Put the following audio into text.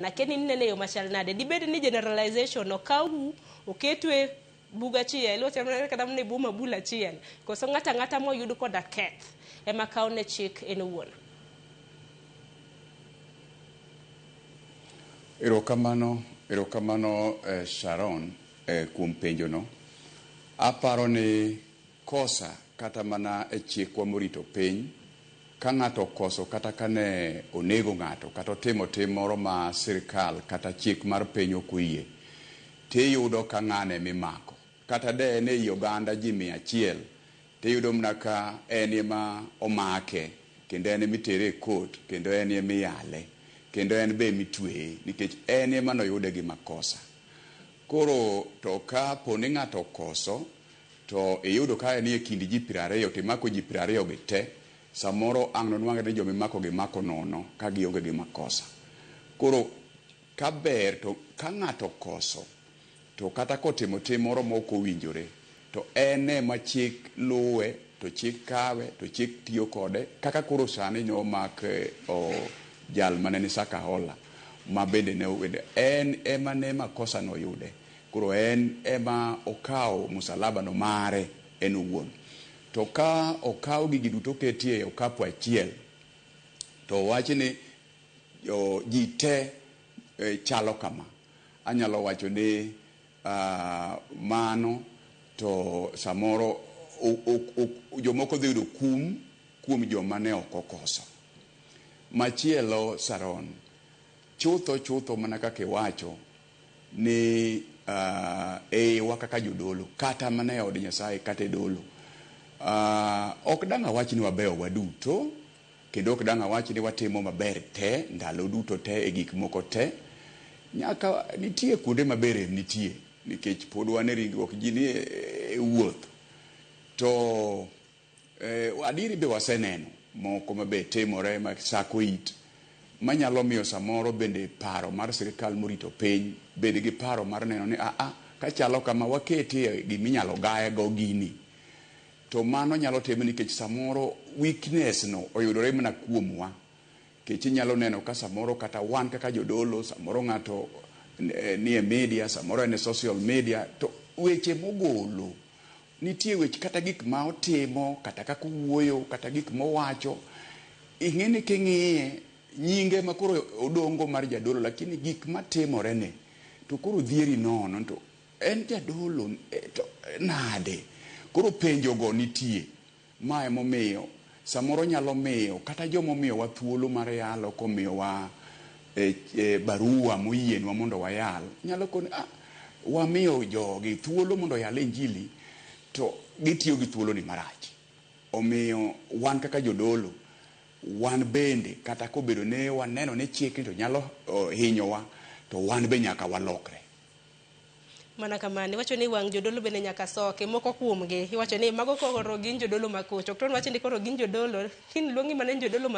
Nake ni inene e yo machal nade? Dibed ni generalization okawu oketu e bug achiel, wachal mana kata mana e bwo mabul achiel, koso ng'ato ang'ata moyud koda keth ema kawone chik en owuon? Erokamano, erokamano eh, Sharon eh, kuom penjono. Aparo ni Kosa kata mana e chikwa morito piny, ka ng'ato okoso kata ka ne onego ng'ato kata otimo tim moro ma sirkal kata chik mar piny ok oyie, to iyudo ka ng'ano ema imako. Kata de en ei oganda ji mia achiel, to iyudo mana ka en ema omake, kendo en ema itere e court, kendo en ema iyale, kendo en be ema itueye nikech en ema ne oyude gi makosa. Koro to ka po ni ng'ato okoso, To iyudo ka en e kind ji piero ariyo to imako ji piero ariyo gi te, samoro ang' nonwang're ni joma imakogi imako nono ka gionge gi makosa. Koro ka ber to ka ng'ato okoso to kata kotimo tim moro ma ok owinjore to en e ma chik luwe to chik kawe to chik tiyo kode kaka koro sani nyo omak jal ma ne ni Sakahola ma bende ne en e ma ne makosa no oyude. Koro en ema okawo musalabano mare en owuon. To ka okaw gigi duto oketi e okapu achiel, to owach ni ji te chalo kama, anyalo wacho ni mano to samoro jomoko dhi yudo kum kuom joma ne ok okoso. Machielo Saron, chutho chutho mana kaka iwacho, ni uh, eiwa kaka jodolo kata mana e od Nyasaye kata e dolo uh, ok dang' awach ni wabeyo waduto kendo ok dang' awach ni watimo maber te ndalo duto te e gik moko te nyaka nitie kuonde maber em nitie nikech pod wan e ringruok ji ni e wuoth to Eh, adieri be waseneno moko ma be timore ma sako it manyalo miyo samoro bende paro mar sirkal morito piny bed gi paro mar neno ni aa kachalo kama waketie gima inyalo gaye go gini to mano nyalo tim nikech samoro weakness no oyudore mana kuomwa nikech inyalo neno ka samoro kata wan kaka jodolo samoro ng'ato eh, nie media samoro en e social media to weche mogolo Nitie weche kata gik ma otimo kata kaka owuoyo kata gik mowacho ing'eni king'iye nyinge ema koro odong' go mar jadolo lakini gik matimore ne to koro dhieri nono nito en jadolo to nade koro penjo go nitie. Ma e momiyo samoro nyalo miyo kata joma omiyowa thuolo mar yalo komiyowa e, e, barua moyienwa mondo wayal, nyalo koni ah, wamiyo jogi thuolo mondo oyal Injili to gitiyo gi thuoloni marach. Omiyo wan kaka jodolo wan bende kata kobedo ne waneno ni chikni to nyalo hinyowa to wan be nyaka walokre. mana kamano iwacho ni wang' jodolo bende nyaka soke moko kuomgi iwacho ni mago koro gin jodolo makoch ok to ni wacho ni koro gin jodolo kiny luongi mana ni jodolo ma